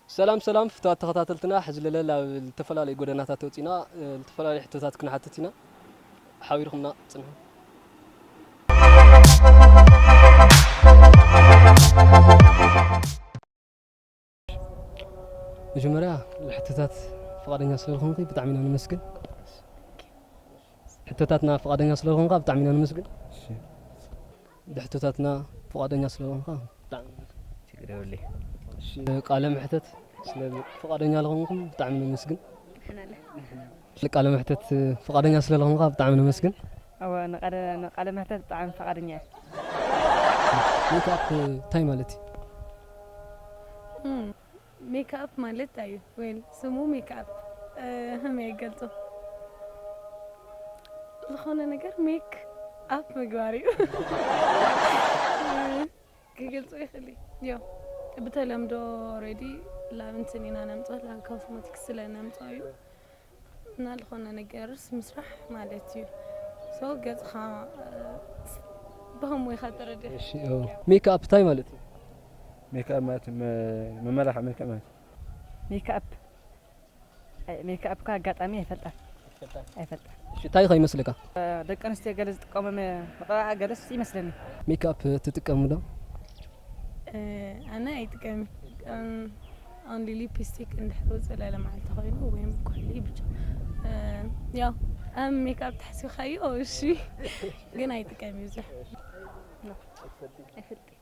ሰላም ሰላም ፍትዋት ተኸታተልትና ሕዚ ለለ ላብ ልተፈላለዩ ጎደናታት ወፂና ልተፈላለዩ ሕቶታት ክንሓትት ኢና ሓቢርኩምና ፅንሑ መጀመርያ ሕቶታት ፍቓደኛ ስለዝኾንኪ ብጣዕሚ ኢና ነመስግን። ሕቶታትና ፍቓደኛ ስለዝኾንካ ብጣዕሚ ኢና ነመስግን። ብሕቶታትና ፍቓደኛ ስለዝኾንካ ብጣዕሚ ችግር የብለይ። ቃለ መሕተት ስለ ፍቓደኛ ዝኾንኩም ብጣዕሚ ነመስግን። ንቃለ መሕተት ፍቃደኛ ስለልኾንካ ብጣዕሚ ነመስግን። እወ ንቃለ መሕተት ብጣዕሚ ፍቃደኛ እየ። ሜክኣፕ እንታይ ማለት እዩ? ሜክኣፕ ማለት ታይ እዩ ዌል ስሙ ሜክኣፕ ሀመይ ይገልፆ ዝኾነ ነገር ሜክ ኣፕ ምግባር እዩ። ክገልጾ ይክል እዮ ብተለምዶ ሬዲ ላብ እንትን ኢና ነምጾ ላብ ኮስሞቲክስ ስለ ነምጾ እዩ እና ዝኾነ ነገርስ ምስራሕ ማለት እዩ ሰው ገጽኻ ብኸምኡ ኢኻ ተረድእ ሜክኣፕ እንታይ ማለት እዩ ሜክኣፕ ማለት መመላኽዒ መልክዕ ማለት እዩ ሜክኣፕ ሜክኣፕካ ኣጋጣሚ ኣይፈልጣን ኣይትፈልጣን ኣይፈልጣን እሺ እንታይ ከ ይመስለካ ደቂ ኣንስትዮ ገለ ዝጥቀሙ መቐባእያ ገለስ ይመስለኒ። ሜክኣፕ ትጥቀሚ ዶ? ኣነ ኣይጥቀምን ኦንሊ ሊፒስቲክ እንድሕር ውፅእ ለለ መዓልቲ ኮይኑ ወይም ኩሕሊ ብቻ ያው ኣብ ሜክኣፕ ተሓሲብካዮ እሺ ግን ኣይጥቀም ብዙሕ ኣይፈልጥን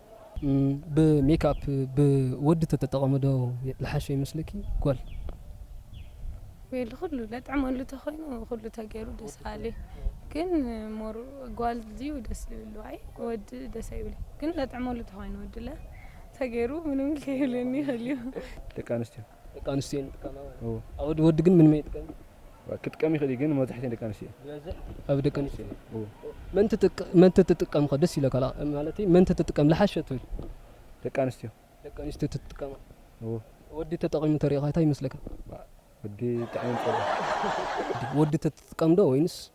ብ ሜክኣፕ ብ ወዲ ተተጠቐሚ ዶ ልሓሾ ይመስለኪ ጓል። ዌል ኩሉ ለጥዕመሉ ተኮይኑ ኩሉ ተገይሩ ደስ በሃሊ ግን ሞር ጓል ድዩ ደስ ዝብሉ ኣይ ወዲ ደስ ኣይብልን ግን ለጥዕመሉ ተኮይኑ ወዲ ለ ተገይሩ ምንም ከይብለኒ ይክእል እዩ። ደቂ ኣንስትዮ ደቂ ኣንስትዮ እየን ዝጥቀማ ማለት እዩ። እወ። ወዲ ወዲ ግን ምንም ኣይጥቀምን። ክጥቀም ይኽእል እዩ ግን መብዛሕትኤን ደቂ ኣንስትዮ እየን። ዝበዝሕ ኣብ ደቂ ኣንስትዮ እዩ። እወ። መን ትጥቅ መን ተትጥቀም ከ ደስ ይብለካ ላእ ማለተይ መን ተትጥቀም ልሓሸ ትብል? ደቂ ኣንስትዮ። ደቂ ኣንስትዮ ተትጥቀማ። እወ። ወዲ ተጠቒሙ ተሪእኻ ታይ ይመስለካ? ወዲ ጥዕሙ ይጸልእ። ወዲ ተትጥቀም ዶ ወይንስ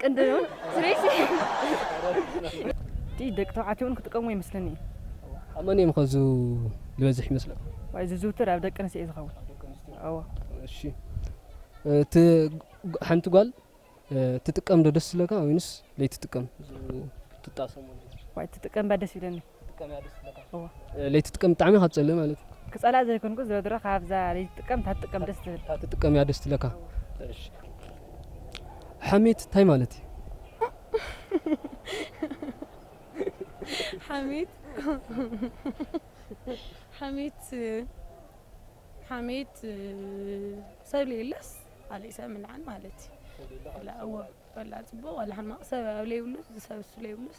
ቅንድብን ስሬሲ እቲ ደቂ ተባዕትዮ እውን ክጥቀምዎ ይመስለኒ እዩ። ኣብ መን እዮም ከ ዝበዝሕ ይመስለኩም? ዋይ ዝዝውትር ኣብ ደቂ ኣንስትዮ እዩ ዝኸውን። ኣብ ደቂ ኣንስትዮ እወ። እሺ እቲ ሓንቲ ጓል ትጥቀም ዶ ደስ ዝብለካ ወይንስ ዘይትጥቀም ትጣሰሞ ነገር? ዋይ ትጥቀም እባ ደስ ይብለኒ። ለይቲ ትጥቀም ብጣዕሚ ካብ ትጸልእ ማለት እዩ ክጸልኣ ዘይኮንኩ ዝሮ ድሮ ካብዛ ለይቲ ትጥቀም እታ ትጥቀም ደስ ትብል እታ ትጥቀም እያ ደስ ትለካ ሓሜት እንታይ ማለት እዩ ሓሜት ሓሜት ሓሜት ሰብ ለየለስ ኣለ ሰብ ምልዓን ማለት እዩ ወላ ጽቡቅ ወላ ሕማቅ ሰብ ኣብ ለይብሉስ ሰብ እሱ ለይብሉስ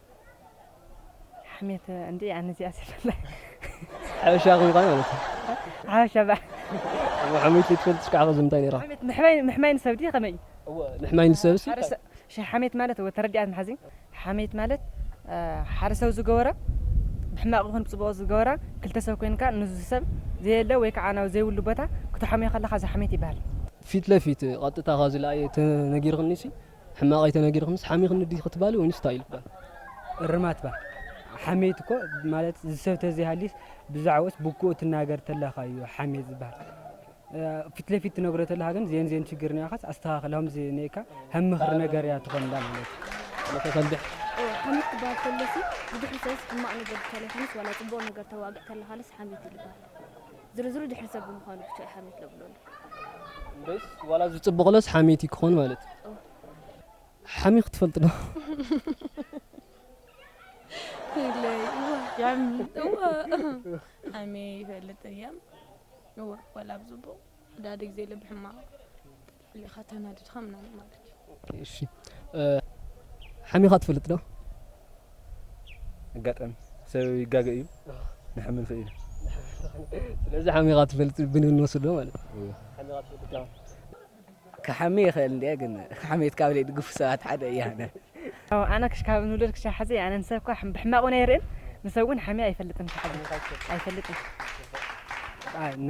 ሓሜት እንድዒ ኣነ እዚኣ ዘይፈላይ ሓበሻ ከም ምዃን ማለት እዩ ሓበሻ በ ሓሜት ዘይትፈልጥ ሽካዕ ከዚ ምንታይ ነይራ ሓሜት ምሕማይ ምሕማይ ንሰብ ድዩ ከመይ እዩ እወ ምሕማይ ንሰብሲ ሓደ ሰብ ሸ ሓሜት ማለት እወ ተረዲኣት መሓዚ ሓሜት ማለት ሓደ ሰብ ዝገበሮ ብሕማቕ ይኹን ብጽቡቕ ዝገበራ ክልተ ሰብ ኮይንካ ንዚ ሰብ ዘየለ ወይ ከዓ ናብ ዘይብሉ ቦታ ክትሓምዮ ከለኻ እዚ ሓሜት ይበሃል። ፊት ለፊት ቐጥታ ከዚ ለኣየ ተነጊርክኒሲ ሕማቕ ኣይተናጊርክንስ ሓሚኽኒ ዲኺ ትባሊ ወይንስ ታይ ኢልክ ባል እርማት ባል ሓሜት እኮ ማለት ዝሰብ ተዘይሃሊስ ብዛዕብኡስ ብኩኡ ትናገር ተለኻ እዩ ሓሜት ዝባሃል ፊት ለፊት ትነግሮ ተለኻ ግን ዜን ዜን ችግር ኒኣኻስ ኣስተኻኽል ሀምዚ ኒእካ ሀም ምኽሪ ነገር እያ ትኾንላ ማለት ተሰብሕ ሓሜት ክባሃል ከሎሲ ብድሕሪ ሰብስ ሕማቕ ነገር ተለኻንስ ዋላ ጽቡቕ ነገር ተዋግዕ ተለኻልስ ሓሜት እዩ ልባሃል ዝርዝሩ ድሕሪ ሰብ ብምዃኑ ብቻ እዩ ሓሜት ለብሎሉ። እንደስ ዋላ ዝጽብቕሎስ ሓሜት እዩ ክኾን ማለት እዩ። ሓሚኽ ትፈልጥ ዶ? ሓሜ ይፈልጥ እየ እወ ዋላ ብጽቡቕ ዳድግ ዘይለ ብሕማቕ ኢኻ ተናዲድካ ምናምን ማለት እዩ። እሺ ሓሚኻ ትፈልጥ ዶ? ኣጋጣሚ ሰብ ይጋገ እዩ ንሐሚ ንኽእል ኢና። ስለዚ ሓሚኻ ትፈልጥ ብንብል ንወስዶ ማለት እዩ። ሓሚኻ ትፈልጥ ዶ? ክሓሚ ይኽእል እንድየ ግን ሓሜት ካብ ዘይድግፉ ሰባት ሓደ እየ ኣነ። ኣነ ካብ ንውለድ ክሻዕ ሓዚ ኣነ ንሰብ እኳ ብሕማቕ እውን ኣይርእን ንሰብ እውን ሓምየ ኣይፈልጥን ክሓዚ ኣይፈልጥን። ኣይ ን።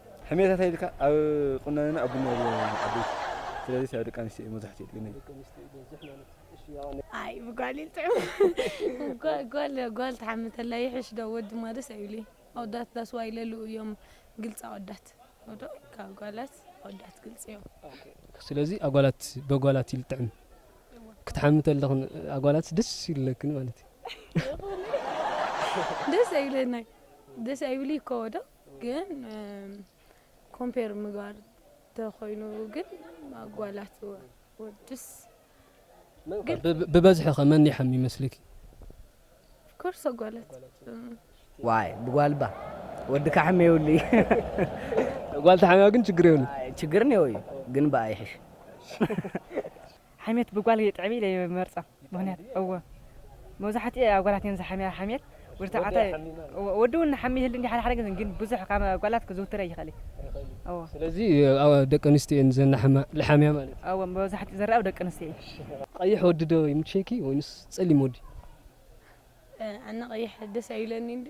ሕሜታ ታይ ኢልካ ኣብ ቁናኖና ኣብ ቡና ኢልዎ ዓበይቲ ስለዚ ስዕብ ደቂ ኣንስትዮ እዩ መብዛሕትኡ ግን። ኣይ ብጓሊል ጥዑም ጎል ጎል ትሓሚ ተላ ይሕሽ ዶ ወዲ ማዶ ስዕብ ኢሉ እዩ ኣወዳት ዳስ ዋይ ለሉ እዮም ግልፂ ኣወዳት ዶ ካብ ጓላት ኣወዳት ግልፂ እዮም። ስለዚ ኣጓላት በጓላት ኢሉ ጥዕም ክትሓሚ ተለክን ኣጓላት ደስ ይብለክን ማለት እዩ። ደስ ኣይብለናይ ደስ ኣይብልይ እኮ ዶ። ግን ኮምፔር ምግባር ተኾይኑ ግን ኣጓላት ወድስ ብበዝሒ ከ መን ይሓሚ ይመስልኪ? ኦፍኮርስ ኣጓላት። ዋይ ብጓል እባ ወዲ ካሕሚ የብሉ እዩ። ጓል ተሓሚማ ግን ችግር የብሉን። ችግር እኔዎ እዩ ግን ብኣ ይሕሽ። ሓሜት ብጓል የጥዕብ ኢለ ይመርጾ ምክንያት እወ መብዛሕቲኤ ኣጓላት እየን ዝሓምያ ሓሜት ወዲ ተባዕታይ ወዲ ውን ሓሚ ይህሊ እንዲዩ ሓደ ሓደ ግዜ ግን ብዙሕ ካብ ኣጓላት ክዝውትር ኣይክእል እዩ እወ። ስለዚ ደቂ ኣንስትዮ እየን ዘናሕማ ልሓምያ ማለት እዩ። እወ መብዛሕቲኡ ዝረኣ ኣብ ደቂ ኣንስትዮ እዩ። ቀይሕ ወዲ ዶ ይምቸይኪ ወይንስ ጸሊም ወዲ? ኣነ ቀይሕ ደስ ኣይብለኒን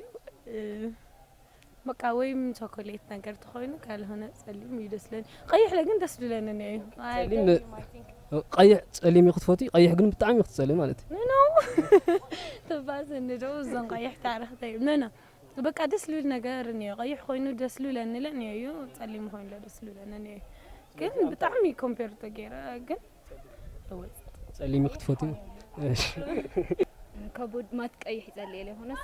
በቃ ወይም ቸኮሌት ነገር ተኾይኑ ካልሆነ ጸሊም እዩ ደስ ለኒ ቀይሕ ለግን ደስ ድለኒ ነ እዩ ጸሊም ቀይሕ ጸሊም እዩ ክትፈትዩ ቀይሕ ግን ብጣዕሚ እዩ ክትጸልም ማለት እዩ ኖ ተባሰኒ ዶ እዞን ቀይሕ ታረክተይ ኖ ኖ በቃ ደስ ልብል ነገር እኒኦ ቀይሕ ኮይኑ ደስ ልብለኒ ለ እኒኦ እዩ ጸሊም ኮይኑ ለ ደስ ልብለኒ እኒኦ እዩ ግን ብጣዕሚ ኮምፔር ተገይረ ግን ጸሊም እዩ ክትፈትዩ ከቡድ ማት ቀይሕ ይጸልየ ለይኮነስ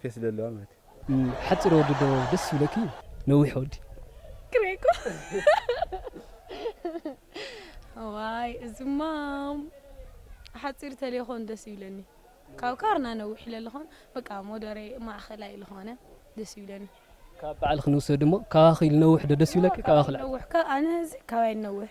ፌስ ደለዋ ማለት እዩ ሓጺር ወዲ ዶ ደስ ይብለኪ ነዊሕ ወዲ ክሬኮ ዋይ እዚ ማም ሓፂር ተሌኾን ደስ ይብለኒ ካብ ካርና ነዊሕ ለለኾን በቃ ሞደሬ ማእኸላይ ለኾነ ደስ ይብለኒ ካብ በዓል ክንውሰድ እሞ ካባኺ ልነውሕ ዶ ደስ ይብለኪ ካባኺ ልነውሕ ኣነ እዚ ካባይ ልነውሕ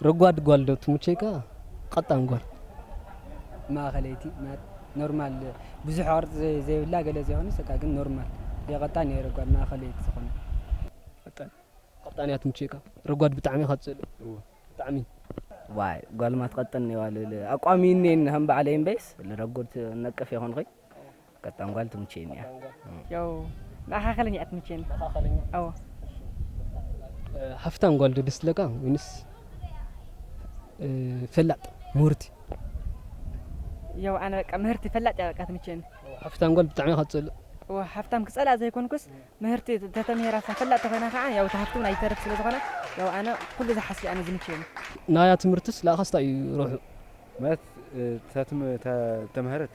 ረጓድ ጓል ዶ ትምቸይካ ቀጣን ጓል? ማእከለይቲ ኖርማል ብዙሕ ቅርጺ ዘይብላ ገለ ዘይኮነስ በቃ ግን ኖርማል ዘይቀጣን እየ ረጓድ ማእከለይቲ ዝኮነት። ቀጣን ቀጣን እያ ትምቸየካ ረጓድ ብጣዕሚ ኢካ ትጸልኦ ብጣዕሚ። ዋይ ጓል ማትቀጥን ኔዋ ልብል ኣቋም እዩ እኒኤኒ ከም ባዕለይ እምበይስ ልረጉድ ነቅፍ ኣይኮንኩይ። ቀጣን ጓል ትምቸየኒ እያ ያው ንዓኻ ከለኛ እያ ትምቸየኒ ንዓኻ ከለኛ ኣዎ ሃፍታም ጓል ዶ ደስ ትብለካ ወይንስ ፈላጥ ምሁርቲ ያው ኣነ በቃ ምህርቲ ፈላጥ እያ በቃ ትምቸየኒ ሃፍታም ጓል ብጣዕሚ እያ ክትጸልእ ሃፍታም ክጸልኣ ዘይኮንኩስ ምህርቲ ተተምሂራ ፈላጥ ተኾይና ከዓ ያው እቲ ሃፍቲ እውን ኣይተርፍ ስለ ዝኾነ ያው ኣነ ኩሉ ዝሓሲ ኣነ ዝምቸየኒ ናያ ትምህርትስ ለኣኻስ እንታይ እዩ ረብሑ ማለት ተተምህረት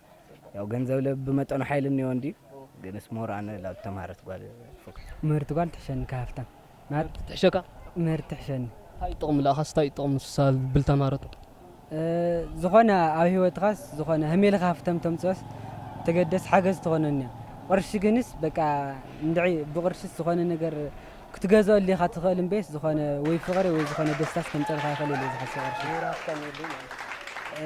ያው ገንዘብ ለብ ብመጠኑ ሓይል እኒኦ እንዲ ግንስ ሞር ኣነ ላብ ተማሃረት ጓል ፎክስ ምህርቲ ጓል ትሕሸኒ ካብ ሃፍታም ማለት ትሕሸካ ምህርቲ ትሕሸኒ እንታይ ጥቕሙ ለኣኻስ እንታይ ጥቕሙ ንሳ ብል ተማሃረቱ እ፣ ዝኾነ ኣብ ህይወትኻስ ዝኾነ ህሜልኻ ሃፍተም ተምፅኦስ ተገደስ ሓገዝ ትኾነኒ እያ ቕርሺ ግንስ በቃ እንድዒ ብቕርሽስ ዝኾነ ነገር ክትገዝኦሉ ኢኻ ትኽእል እምበይስ ዝኾነ ወይ ፍቕሪ ወይ ዝኾነ ደስታስ ከምፀልካ ይኽእል ኢለ ዝሓስብ ቕርሺ እ፣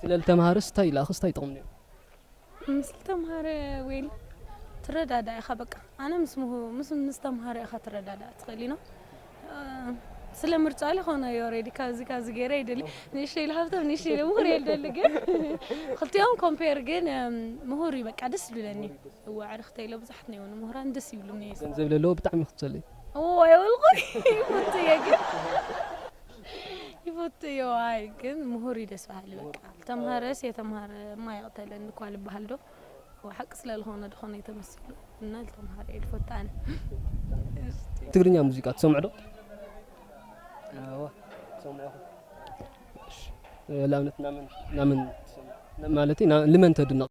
ስለ ልተምሃረስ ታይ ኢላክስ ታይ ጥቅሚ ኔሩ። ምስ ልተምሃረ ዌል ትረዳዳእ ኢካ በቃ ኣነ ምስ ምሁር ምስ ምስ ተምሃሮ ኢካ ትረዳዳእ ትክእል ዩ ን ስለ ምርጫ ልኮኖ ዩ ኦሬዲ ካብዚ ካብዚ ጌረ ይደሊ ንእሽተይ ልሃብቶም ንእሽተይ ልምሁር እየ ልደሊ ግን ክልቲኦም ኮምፔር ግን ምሁር ዩ በቃ ደስ ዝብለኒ እወ ኣዕርክተይ ኢለ ብዙሓት ነይዎ ንምሁራን ደስ ይብሉኒ ገንዘብ ለለዎ ብጣዕሚ ክትሰሊ እወ የብልኩይ ይፍቱ እየ ግን ይፈቱ እዮ ኣይ ግን ምሁር እዩ ደስ በሃሊ በቃ ዝተምሃረስ የተምሃረ ማይ ይቕተለን እኳ ልበሃል ዶ ሓቂ ስለ ዝኾነ ድኾነ የተመሲሉ እና ዝተምሃረ እዩ ልፈቱ ኣነ ትግርኛ ሙዚቃ ትሰምዑ ዶ ንኣብነት ናመን ማለት ልመን ተድንቕ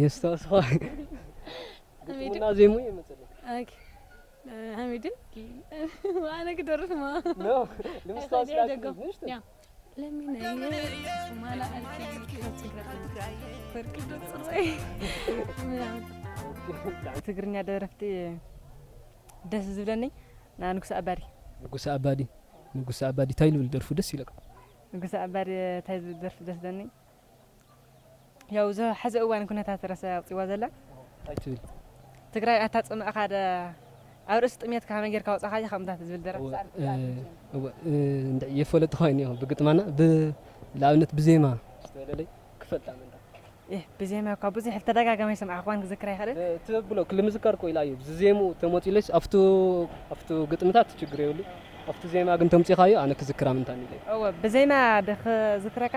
የስታውስኻ ግጥሙና ዜሙ ይመጽልኝ ኦኬ ሐሚድን ዋነ ክደርፍ ማ ነው ልምስታውስ ላችሁ ምንሽ ያ ለምን ማላ አልኪ ትግራይ ፈርቅ ደጽረይ ትግርኛ ደረፍቲ ደስ ዝብለኒ ና ንጉሰ ኣባዲ ንጉሰ ኣባዲ ንጉሰ ኣባዲ እንታይ ልብል ደርፉ ደስ ይለካ ንጉሰ ኣባዲ እንታይ ዝብል ደርፊ ደስ ዝብለኒ ያው እዛ ሐዚ እዋን ኩነታት ረሰ ኣውፅዋ ዘላ እንታይ ትብል ትግራይ ኣታ ፅምእኻ ደ ኣብ ርእሲ ጥሜት ከመይ ጌርካ ወፃኻያ ከምታት ዝብል ደረ እንድዕ የፈለጥ ኾይኒ እዮም ብግጥማና ብኣብነት ብዜማ ዝተለለይ ክፈልጣ ምንዳ ብዜማ እኳ ብዙሕ ተደጋጋሚ ሰምዓኽዋን ክዝክር ኣይኽእልን ትብሎ ክል ምዝካር ኮይላ እዩ ዝዜሙ ተመፂለስ ኣብቱ ኣብቱ ግጥምታት ችግር የብሉ ኣብቲ ዜማ ግን ተምፂኻዮ ኣነ ክዝክራ ምንታኒ እወ ብዜማ ድክዝክረካ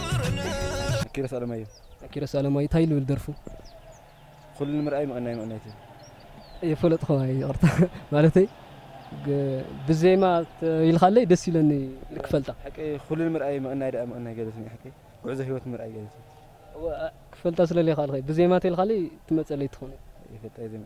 ኪሮስ ኣለማዮ ኪሮስ ኣለማዮ እንታይ ልብል ደርፉ ኩሉ ንምርኣይ ምቕናይ ምቕናይ ትብል የፈለጥኹዋ ይቕርታ ማለተይ ብዜማ ኢልካለይ ደስ ኢለኒ ክፈልጣ ሓቂ ኩሉ ንምርኣይ ምቕናይ ደኣ ምቕናይ ገለትኒ ሓቂ ጉዕዞ ህይወት ምርኣይ ገለትኒ ክፈልጣ ስለለይ ካልኸ ብዜማ ተልካለይ ትመፀለይ ትኾነ ይፈልጣ ዜማ